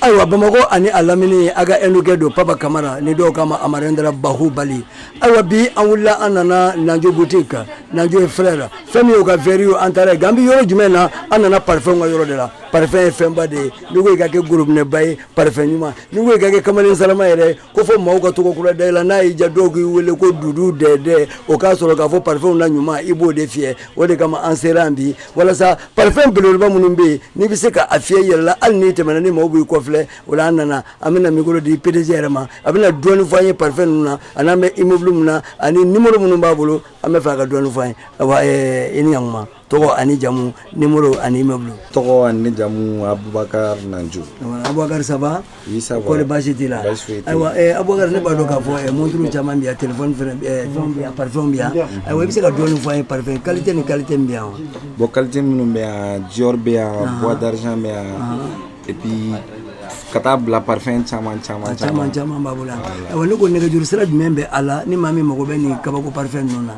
ayiwa bamakɔ ani a lamini a ka ɛndukɛ don papa kamara ni dɔw k'a ma amarendra bahubali ayiwa bi an wulila an nana nanjo boutique kan nanjo et frère fɛn min y'o ka verre ye an taara yen an bɛ yɔrɔ jumɛn na an nana parfɛnw ka yɔrɔ de la parfɛn ye fɛnba de ye n'i ko i ka kɛ gorobinɛba ye parfɛn ɲuman n'i ko i ka kɛ kamalen sarama yɛrɛ ye ko fɔ maaw ka tɔgɔ kura da i la n'a y'i ja dɔw k'i wele ko dudu dɛdɛ o k'a sɔrɔ k'a fɔ parfɛnw na ɲuman i b'o de fiyɛ o de kama an sera yan bi walasa parfɛn beleba minnu bɛ yen n'i bɛ se ka a fiyɛ i yɛrɛ la hali n'i tɛmɛna ni maaw b'i kɔfilɛ o la an nana an bɛna mikoro di pdg yɛrɛ ma a bɛna dɔɔni fɔ an ye parfɛn ninnu na a n'an bɛ imobulu min na ani ni minnu b'a bolo an b'a fɛ ka dɔɔni fɔ a ye i ni ɲ ɲɛkuma tɔgɔ ani jamu nimoro ani imobulu tɔgɔ ani jamu abubakar nanjo abubakar ça va kɔri baasi t'i la ayiwa eh, abubakar ne b'a dɔn k'a fɔ eh, monturu caman bɛ yan telefɔni fɛnɛ eh, fɛnw bɛ yan parifɛnw bɛ yan ayiwa i bɛ se ka dɔɔni fɔ an ye parifɛn kalite ni kalite min bɛ yan wa bɔn kalite minnu bɛ yan dior bɛ yan bois d'argent bɛ yan et puis ka taa bila parfɛn caman caman caman caman b'an bolo yan ayiwa ne ko nɛgɛjuru sira jumɛn bɛ a la ni maa min mago bɛ nin kabako parfɛn ninnu na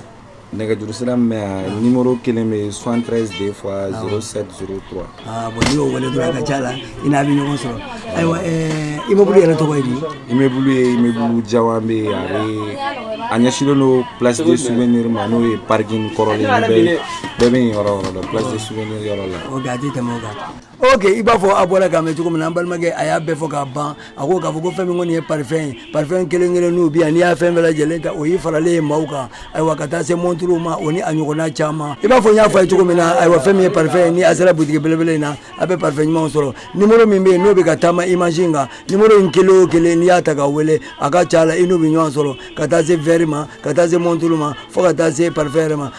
nɛgɛjuru sira min bɛ yan nimoro kelen bɛ soixante treize deux fois zéro sept zéro trois. aa bɔn n'i y'o wele dɔrɔn a ka ca la i n'a bɛ ɲɔgɔn sɔrɔ ayiwa ɛɛ imobulu yɛrɛ tɔgɔ ye di. imobulu ye imobulu jawan bɛ yen a bɛ a ɲɛsinlen don place de souvenir ma n'o ye parking kɔrɔlen bɛɛ bɛɛ bɛ yen yɔrɔ yɔrɔ la place de souvenir yɔrɔ la. ok a tɛ tɛmɛ o kan. ok i b'a fɔ a bɔra k'a mɛn cogo min na an balimakɛ a y'a bɛɛ fɔ k'a ban a ko k'a fɔ ko fɛn min kɔni ye parifɛn ye parifɛn kelen kelen n'u bi yan n'i y'a fɛn bɛɛ lajɛlen ta o y'i faralen ye maaw kan ayiwa ka taa se monturuw ma o ni a ɲɔgɔnna caman i b'a fɔ n y'a fɔ a ye cogo min na ayiwa fɛn min ye parifɛn ye ni a sera butigi belebele in na a bɛ parifɛn ɲumanw sɔrɔ nimoro min bɛ yen n'o bɛ ka taama imazi in kan nimoro in kelen o kelen n'i y'a ta ka wele a ka ca la i n'u bɛ ɲɔgɔn sɔrɔ ka taa se vɛri ma ka taa se monturu ma fo ka taa se parifɛn yɛrɛ ma